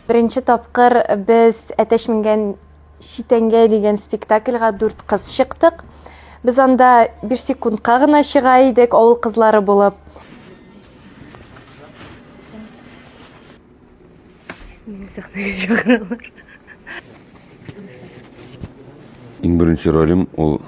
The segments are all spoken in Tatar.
Беренче тапкыр без әтәш менгән читәнгә дигән спектакльга дүрт кыз чыктык. Без анда бер секундка гына чыга идек авыл кызлары булып. Иң беренче ролем ул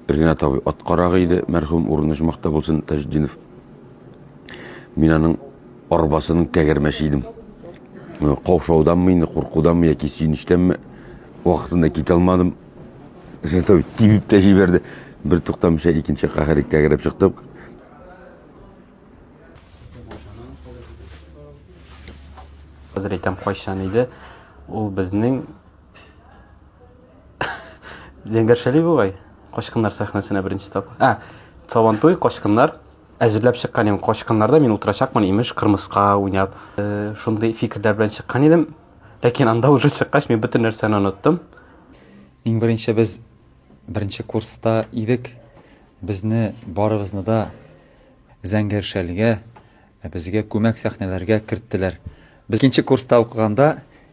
Ринат абый ат карагы иде, мәрхүм урыны җмахта булсын, Таҗетдинов. Мин аның арбасының тәгәрмәче идем. Э, Каушауданмы инде, куркуданмы яки сөенечтәнме вакытында китә алмадым. Ринат абый тибеп тә җибәрде. Бер туктамыйча икенче каһәри тәгәрәп чыктык. Хәзер әйтәм кайчан иде. Ул безнең Зәңгәр Шәли бугай, Качкыннар сәхнәсенә беренче тапкыр. А, Сабантуй, Качкыннар әзерләп чыккан идем. Качкыннарда мин утырачакмын, имеш, кырмыска уйнап. Э, шундый фикерләр белән чыккан идем. Ләкин анда уже чыккач, мин бөтен нәрсәне оныттым. Иң беренче без беренче курста идек. Безне барыбызны да Зәңгәр Шәлгә, безгә күмәк сәхнәләргә керттеләр. Без икенче курста укыганда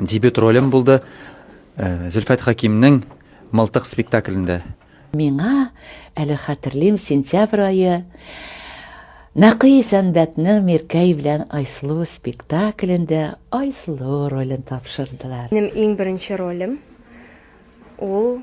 Дебют ролем булды Зөлфәт Хәкимнең Мылтык спектаклендә. Миңа әле хәтерлим сентябрь айы Нәкый Сәнбәтнең Миркәй белән Айслу спектаклендә Айслу ролен тапшырдылар. Минем иң беренче ролем ул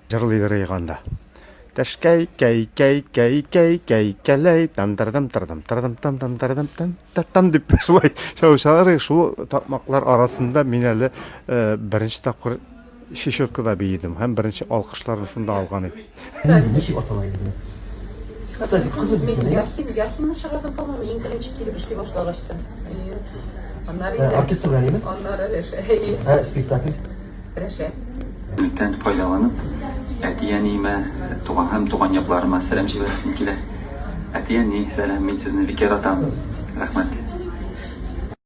Җырлыйдыр ич анда. Тәшкәй, кәй, кәй, кәй, кәй, кәй, кәләй, там тырдым тырдым тырдым там там тырдым там та там дип шулай чалышалар. Шул такмаклар арасында мин әле э, беренче тапкыр Чечеткада биедем һәм беренче алкышларны шунда алган идем. Ничек атала инде? Кызы, кызы бит. Яхин, Яхинны чыгардым, по-моему, иң беренче килеп эшли башлагачтан. Аннары Оркестр белән, әйеме? Аннары Ә, спектакль? Бүтән файдаланып, әти-әниемә, туган һәм туган якларыма сәлам җибәрәсем килә. Әти-әни, сәлам, мин сезне бик яратам. Рәхмәт.